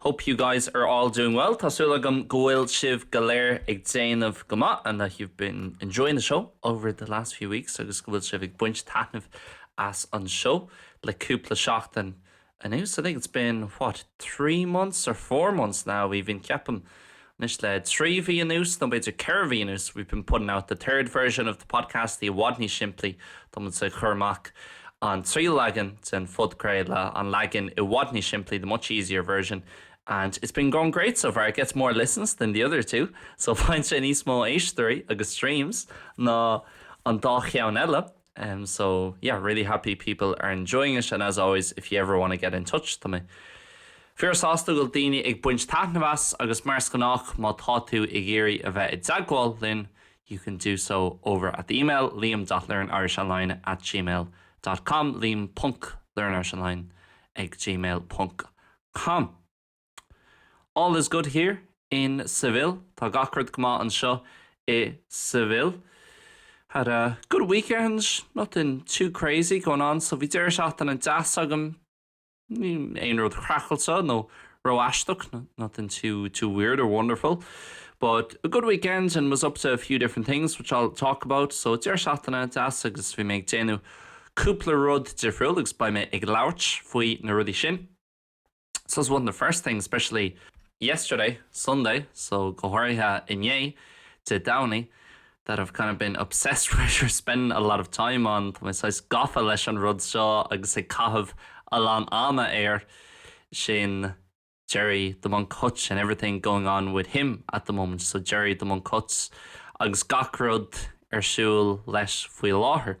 Hope you guys are all doing well, tá súil agam go bhfuil sibh go léir ag déanamh go maith and that you've been enjoying the show over the last few weeks agus go bhfuil sibh ag baint taitneamh as an seó le cúpla seachtain anuas. I think it's been, what, three months or four months now even, ceapaim, Anois le trí mhí anuas, nó b'fhéidir ceithre mhí anuas, we've been putting out the third version of the podcast, i bhfad níos simplí, tá muid ag cur amach an tríú leagan den phodchraoladh, an leagan i bhfad níos simplí, the much easier version, and it's been going great so far, it gets more listens than the other two, so faigheann sé níos mó éisteoirí agus streams ná an dá cheann eile. em so yeah really happy people are enjoying it and as always if you ever want to get in touch tá mé fíor sásta go bhfuil daoine ag baint taitneamh as agus mar is gnách má tá tú ag iarraidh a bheith i dteagmháil linn you can do so over at the email liam dot learnirishonline at gmail dot com liam ponc learnirishonline ag gmail ponc com All is good here in Seville, tá gach rud go maith anseo i Seville. Had a good weekend, nothing too crazy going on, so bhí deireadh seachtaine deas agam, aon rud craiceáilte nó ró-aisteach, nothing too weird or wonderful, but a good weekend and was up to a few different things which I'll talk about, so deireadh seachtaine deas agus bhí mé ag déanamh cúpla rud difriúil agus beidh mé ag labhairt faoi na rudaí sin. So is one of the first things, especially yesterday, Sunday, so go háirithe inné, Dé Domhnaigh, that I've kind of been obsessed or spending a lot of time on, tá mé saghas gafa leis an rud seo agus ag caitheamh a lán ama air, sin Gerry the Monk Hutch and everything going on with him at the moment, so Gerry the Monk Hutch agus gach rud ar siúl leis faoi láthair.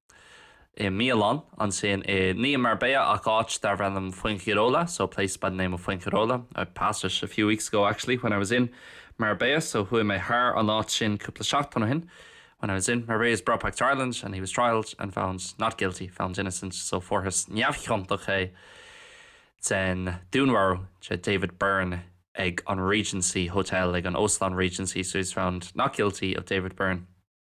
i mbialann ansin i ndiaidh Marbella ach áit darbh ainm Fuengirola so a place by the name of Fuengirola, I passed it a few weeks ago actually when I was in Marbella so chuaigh mé thar an áit sin cúpla seachtain ó shin when I was in Marbella he was brought back to Ireland and he was trialled and found not guilty, found innocent so fuarthas neamhchiontach é den dúnmharú de David Byrne ag an Regency Hotel, ag an Óstán Regency so he was found not guilty of David Byrne.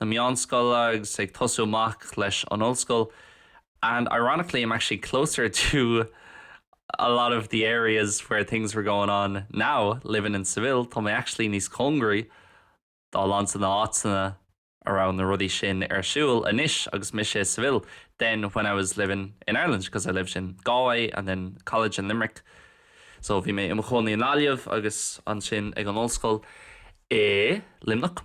na meánscoile agus ag tosú amach leis an ollscoil and ironically I'm actually closer to a lot of the areas where things were going on now living in Seville, tá mé actually níos cóngaraí dá lán de na háiteanna a raibh na rudaí sin ar siúl anois agus mise i Seville than when I was living in Ireland because I lived in Galway and then college in Limerick so bhí mé i mo chónaí i nGaillimh agus ansin ag an ollscoil i Luimneach.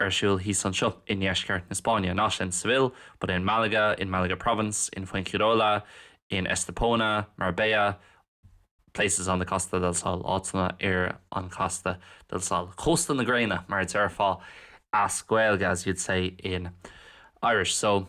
ar siúl thíos anseo i ndeisceart na Spáinne, not in Seville, but in Málaga, in Málaga Province, in Fuengirola, in Estepona, Marbella, places on the Costa del Sol, áiteanna ar an Costa del Sol, Cósta na Gréine, mar a déarfá as Gaeilge, as you'd say in Irish. So.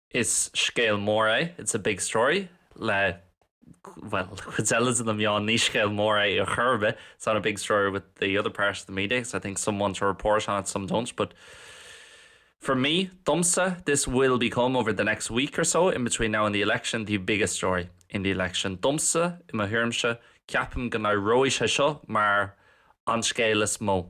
Is scéal mór é, it's a big story. Le, bhuel, le cuid eile de na meáin ní scéal mór é ar chor ar bith, it's not a big story with the other part of the media because I think some want to report on it, some don't but for me, domsa, this will become, over the next week or so in between now and the election, the biggest story in the election. Domsa, i mo thuairimse, ceapaim go n-éireoidh sé seo mar an scéal is mó.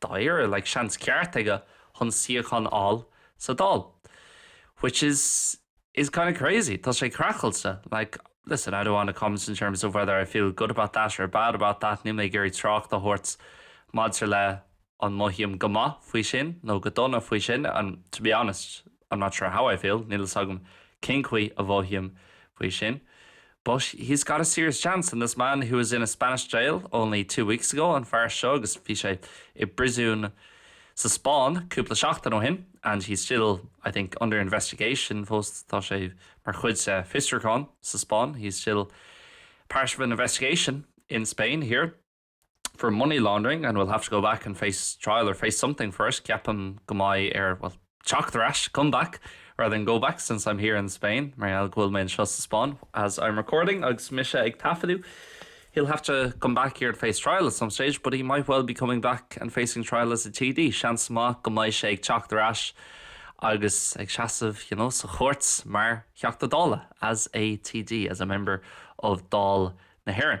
dáiríre like seans ceart aige chun suíochán a fháil sa Dáil, which is kind of crazy. Tá sé craiceáilte, like, listen, I don't want to comment in terms of whether I feel good about that or bad about that, níl mé ag iarraidh trácht a thabhairt maidir le an mothaím go maith faoi sin nó go dona faoi sin, and to be honest, I'm not sure how I feel, níl a fhios agam cén chaoi a mhothaím faoi sin, but he's got a serious chance and this man who was in a Spanish jail only two weeks ago, an fear seo agus bhí sé i bpríosún sa Spáinn cúpla seachtain ó shin, and he's still, I think, under investigation, fós tá sé mar chuid de fiosrúchán sa Spáinn, he's still part of an investigation in Spain here. for money laundering and will have to go back and face trial or face something for it ceapaim go mbeidh air bhuel teacht ar ais come back rather than go back since I'm here in Spain mar gheall go bhfuil mé anseo sa Spáinn as I'm recording agus mise ag taifeadadh he'll have to come back here and face trial at some stage but he might well be coming back and facing trial as a TD seans maith go mbeidh sé ag teacht ar ais agus ag seasamh you know, sa chúirt mar theachta dála as a TD as a member of Dáil na hÉireann.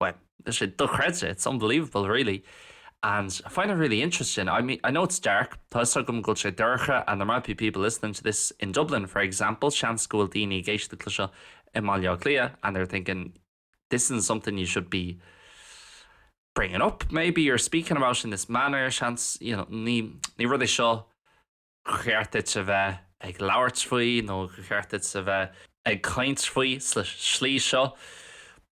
bhuel, tá sé dochreidte, it's unbelievable really and I find it really interesting, I mean, I know it's dark, tá 'fhios agam go bhfuil sé dorcha and there might be people listening to this in Dublin, for example, seans go bhfuil daoine ag éisteacht le seo i mBaile Átha Cliath and they're thinking this isn't something you should be bringing up maybe or speaking about in this manner, seans, you know, ní, ní rud é seo cheart duit a bheith ag labhairt faoi nó cheart duit a bheith ag caint faoi sa slí seo.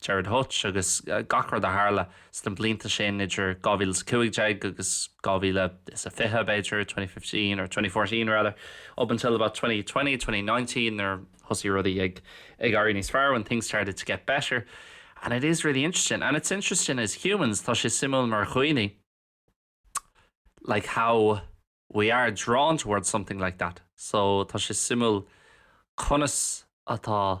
Gerard Hutch agus gach rud a tharla sna blianta sin idir 2015 agus 2020 b'fhéidir, 2015 or 2014 rather, up until about 2020, 2019 nuair a thosaigh rudaí ag éirí níos fearr, when things started to get better and it is really interesting and it's interesting as humans, tá sé suimiúil mar dhaoine like how we are drawn towards something like that, so tá sé suimiúil conas atá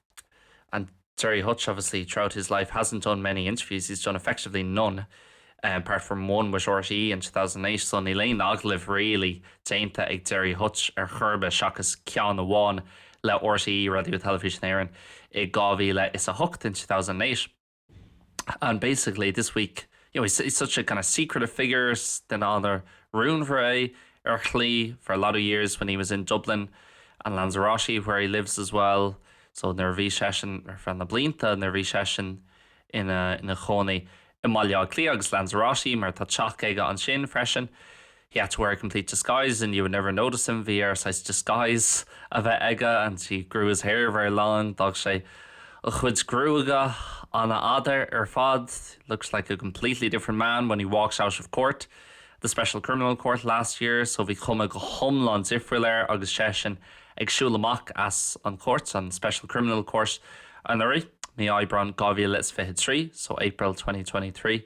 and Gerry Hutch obviously throughout his life hasn't done many interviews, he's done effectively none apart from one with RTÉ in 2008 so níl aon agallamh really déanta ag Gerry Hutch ar chor ar bith seachas ceann amháin le RTÉ, Radio Telefís na hÉireann, i 2008 in 2008. and basically this week you know he's he's such a kind of secretive figure duine an-rúnmhar é ar shlí for a lot of years when he was in Dublin and Lanzarote where he lives as well so nuair a bhí seisean ar feadh na blianta nuair a bhí seisean ina ina chónaí i mBaile Átha Cliath agus Lanzarote mar tá teach aige ansin freisin He had to wear a complete disguise and you would never notice him, bhí air saghas disguise a bheith aige, and he grew his hair very long, d'fhág sé a chuid gruaige an-fhada ar fad, looks like a completely different man when he walks out of court, the Special Criminal Court, last year, so bhí cuma go hiomlán difriúil air agus seisean ag siúl amach as an chúirt, an Special Criminal Court, anuraidh, mí Aibreáin 2023, so April 2023.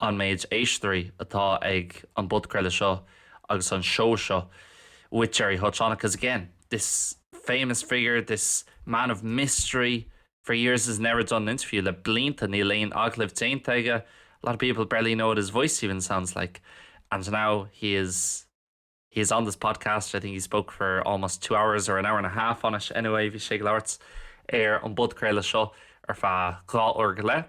an méid éisteoirí atá ag an bpodchraoladh seo agus an seó seo with Gerry Hutch on it because again this famous figure, this man of mystery for years has never done an interview, le blianta níl aon agallamh déanta aige a lot of people barely know what his voice even sounds like and now he is he is on this podcast, I think he spoke for almost two hours or an hour and a half on it anyway bhí sé ag labhairt ar an bpodchraoladh seo ar feadh dhá uair go leith.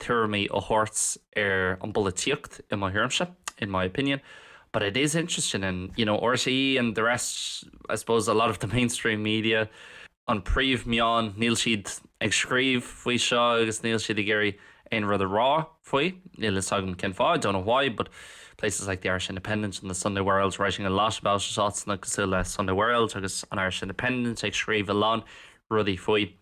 tuairimí a thabhairt ar an bpolaitíocht, i mo thuairimse, in my opinion, but it is interesting and, you know, RTÉ and the rest, I suppose a lot of the mainstream media, an príomh-meáin, níl siad ag scríobh faoi seo agus níl siad ag iarraidh aon rud a rá faoi, níl fhios agam cén fáth, I don't know why, but places like the Irish Independent and the Sunday World writing a lot about it, áiteanna cosúil le Sunday World agus an Irish Independent ag scríobh a lán rudaí faoi.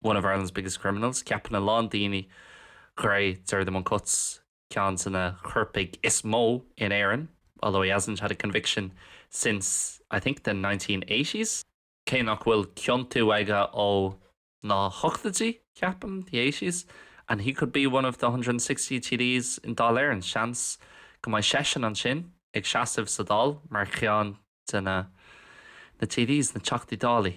One of Ireland's biggest criminals, ceapann a lán daoine gur é Gerry the Monk Hutch ceann de na coirpigh is mó in Éirinn, although he hasn't had a conviction since, I think, the 1980s. Cé nach bhfuil ciontú aige ó na hochtóidí, ceapaim, the eighties, and he could be one of the 160 TDs in Dáil Éireann, seans go mbeidh seisean ansin ag seasamh sa Dáil mar cheann de na TDs, na Teachtaí Dálaí.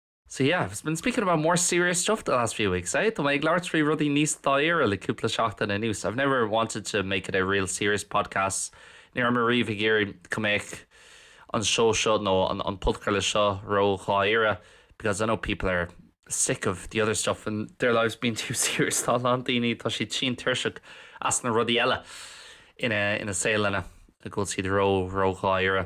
So yeah, I've been speaking about more serious stuff the last few weeks, eh? Tá mé ag labhairt faoi rudaí níos dáiríre le cúpla seachtain anuas. I've never wanted to make it a real serious podcast, ní raibh mé riamh ag iarraidh go mbeadh an seó seo nó an an podchraoladh seo ró-dháiríre because I know people are sick of the other stuff and their lives being too serious, tá a lán daoine, tá siad tinn tuirseach as na rudaí eile ina ina saoleanna a go bhfuil siad ró, ró-dháiríre.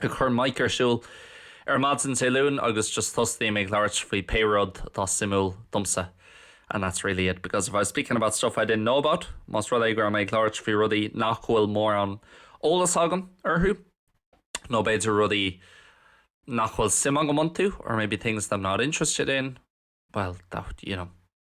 cur mic ar siúl ar maidin Dé Luain agus just tosaím ag labhairt faoi pé rud atá suimiúil domsa and that's really it because if I was speaking about stuff I didn't know about, más rud é go raibh mé ag labhairt faoi rudaí nach bhfuil mórán eolas agam orthu nó b'fhéidir rudaí nach bhfuil suim agam iontu or maybe things that I'm not interested in, well, that would, you know.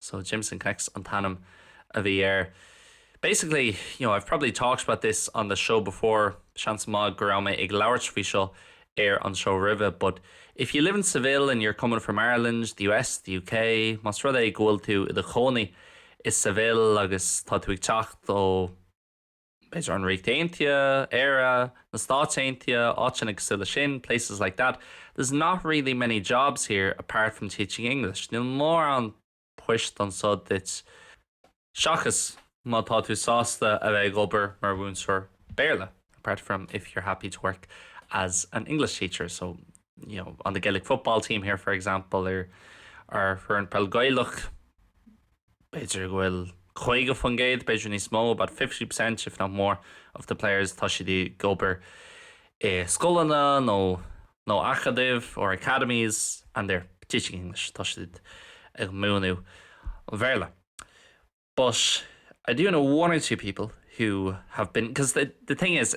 So Jameson Connects an t-ainm a bhí air. Basically, you know, I've probably talked about this on the show before, seans maith go raibh mé ag labhairt faoi seo ar an seó roimhe, but if you live in Seville and you're coming from Ireland, the US, the UK, más rud é go bhfuil tú i do chónaí i Seville agus tá tú ag teacht ó. b'fhéidir an Ríocht Aontaithe, Éire, na Stáit Aontaithe, áiteanna cosúil leis sin, places like that, there's not really many jobs here apart from teaching English, níl mórán poist anseo duit seachas má tá tú sásta a bheith ag obair mar mhúinteoir Béarla apart from if you're happy to work as an English teacher, so, you know, on the Gaelic football team here, for example, ar foireann peil Ghaelach. B'fhéidir go bhfuil 50%, b'fhéidir níos mó, about 50% if not more, of the players, tá siad ag obair i scoileanna nó nó acadaimh or academies and they're teaching English, tá siad ag múineadh an Bhéarla. But I do know one or two people who have been, 'cause the the thing is,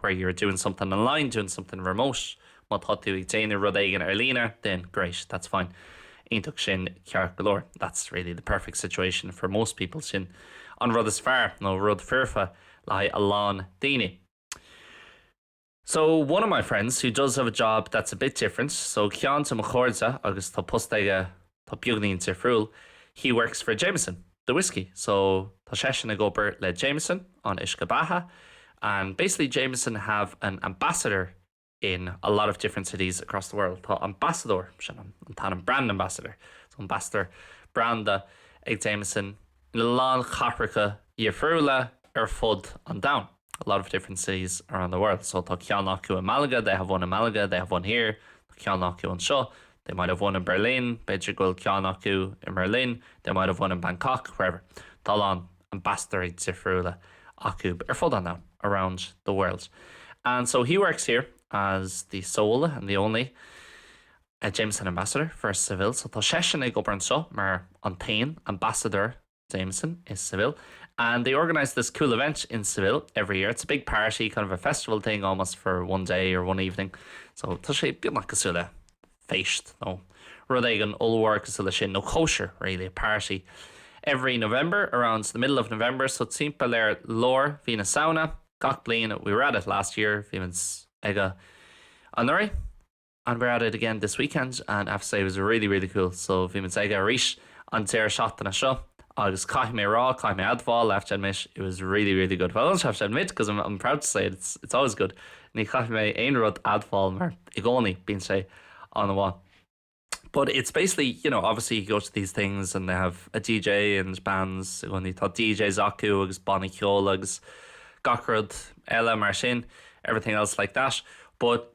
where you're doing something online, doing something remote. Má tá tú ag déanamh rud éigin ar líne, then great, that's fine. Iontach, sin ceart go leor. That's really the perfect situation for most people. Sin an rud is fearr, nó rud foirfe, le haghaidh a lán daoine. So, one of my friends who does have a job that's a bit different, so ceann de mo chairde agus tá post aige atá beagainín difriúil, he works for Jameson, the whiskey, so tá seisean ag obair le Jameson, an uisce beatha, and basically Jameson have an ambassador in a lot of different cities across the world. Tá ambasadóir, sin an t-ainm, brand ambassador, so ambasadóir branda ag Jameson ina lán cathracha difriúla ar fud an domhain. a lot of different cities around the world so tá ceann acu i Malaga they have one in Malaga, they have one here tá ceann acu anseo they might have one in Berlin b'fhéidir go bhfuil ceann acu i mBerlin they might have one in Bangkok, wherever tá a lán ambassadóirí difriúla acu ar fud an domhain around the world and so he works here as the sole and the only a Jameson ambassador for Seville so tá seisean ag obair anseo mar an t-aon ambassadóir Jameson i Seville and they organise this cool event in Seville every year, it's a big party, kind of a festival thing almost for one day or one evening so tá sé beagnach cosúil le feist nó rud éigin ollmhór cosúil leis sin, nó cóisir really, a party every November, around the middle of November so timpeall ar lár mhí na Samhna gach bliain we were at it last year, bhímid aige anuraidh. and we're at it again this weekend and I have to say it was really really cool so bhí muid aige arís an deireadh seachtaine seo agus caithfidh mé a rá, caithfidh mé a admháil, I have to admit, it was really really good well I don't have to admit because I'm, I'm proud to say it, it's, it's always good ní chaithfidh mé aon rud admháil mar i gcónaí bíonn sé an bháin But it's basically, you know, obviously you go to these things and they have a DJ and bands when you thought DJs acu agus banna ceol agus gacrod eile mar sin, everything else like that. But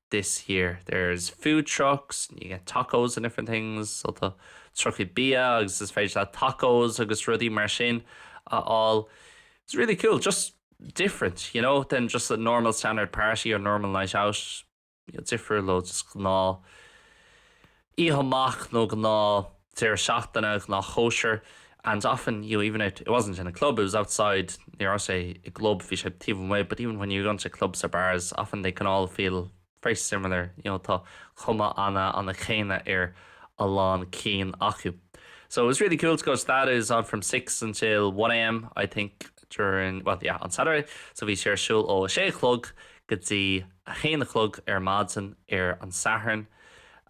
this year. There's food trucks and you get tacos and different things, so tá trucaí bia agus is féidir leat tacos agus rudaí mar sin a fháil. It's really cool, just different, you know, than just a normal standard party or normal night out, difriúil ó just gnáth Oíche amach nó gnáth deireadh seachtaine, gnáth chóisir and often you know even it wasn't in a club, it was outside ní raibh sé i gclub, bhí sé taobh amuigh but even when you go to clubs or bars often they can all feel very similar you know tá cuma ana ana céanna ar a lán cinn acu so it was really cool to go to that, it was on from six until one AM I think during well yeah on Saturday so bhí sé ar siúl ó a sé a chlog go dtí a haon a chlog ar maidin ar an Satharn.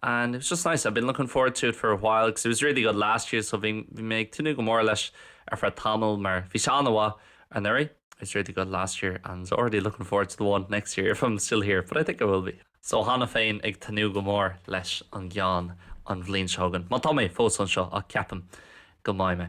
and it was just nice, I'd been looking forward to it for a while because it was really good last year so bhí mé ag tnúth go mór leis ar feadh tamaill mar bhí sé an-mhaith anuraidh it was really good last year and already looking forward to the one next year if I'm still here, but I think I will be. So cheana féin ag tnúth go mór leis an gceann an bhliain seo chugainn, má tá mé fós anseo, ach ceapaim go mbeidh mé.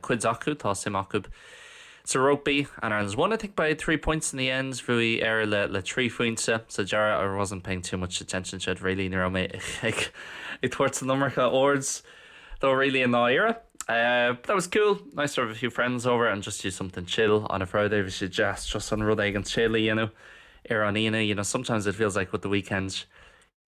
cuid acu, tá suim acu sa rugbaí and Ireland won, I think, by three points in the end, bhuaigh Éire le, le trí phointe sa deireadh I wasn't paying too much attention to it really, ní raibh mé ag tabhairt an iomarca aird dó really i ndáiríre. But that was cool, nice to have a few friends over and just do something chill on a Friday, bhí sé deas just rud éigin chill a dhéanamh ar an Aoine, you know, sometimes it feels like with the weekends,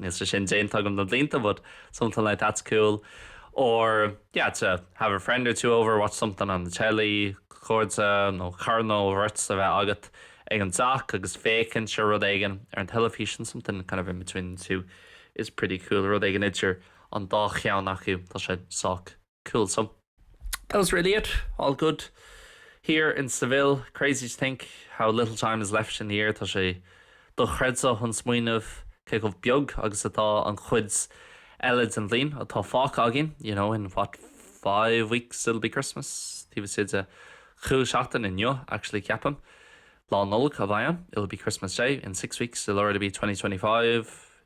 níl sé sin déanta agam le blianta but something like that's cool or yeah to have a friend or two over, watch something on the telly, cairde nó cara nó beirt a bheith agat ag an dteach agus féachaint ar rud éigin ar an teilifíseán something kind of in between the two is pretty cool, rud éigin idir an dá cheann acu, tá sé sách. Cool. So that was really it, all good here in Seville. Crazy to think how little time is left in the year, tá sé dochreidte chun smaoineamh cé chomh beag agus atá an chuid eile den bhliain atá fágtha againn, you know, in what, five weeks it'll be Christmas? taobh istigh de chúig seachtain inniu actually ceapaim, Lá Nollag a bheidh ann, it'll be Christmas Day in six weeks, it'll already be twenty twenty-five.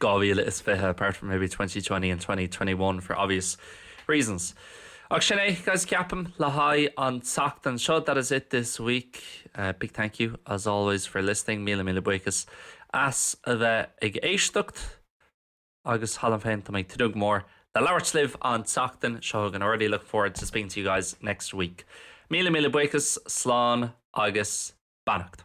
2020 apart from maybe 2020 and 2021 for obvious reasons Ach sin é, guys, ceapaim, le haghaidh an tseachtain seo that is it this week. Big thank you, as always, for listening míle míle buíochas as a bheith ag éisteacht agus cheana féin táim ag tnúth go mór le labhairt libh an tseachtain seo chugainn already look forward to speaking to you guys next week. Míle míle buíochas, slán agus beannacht.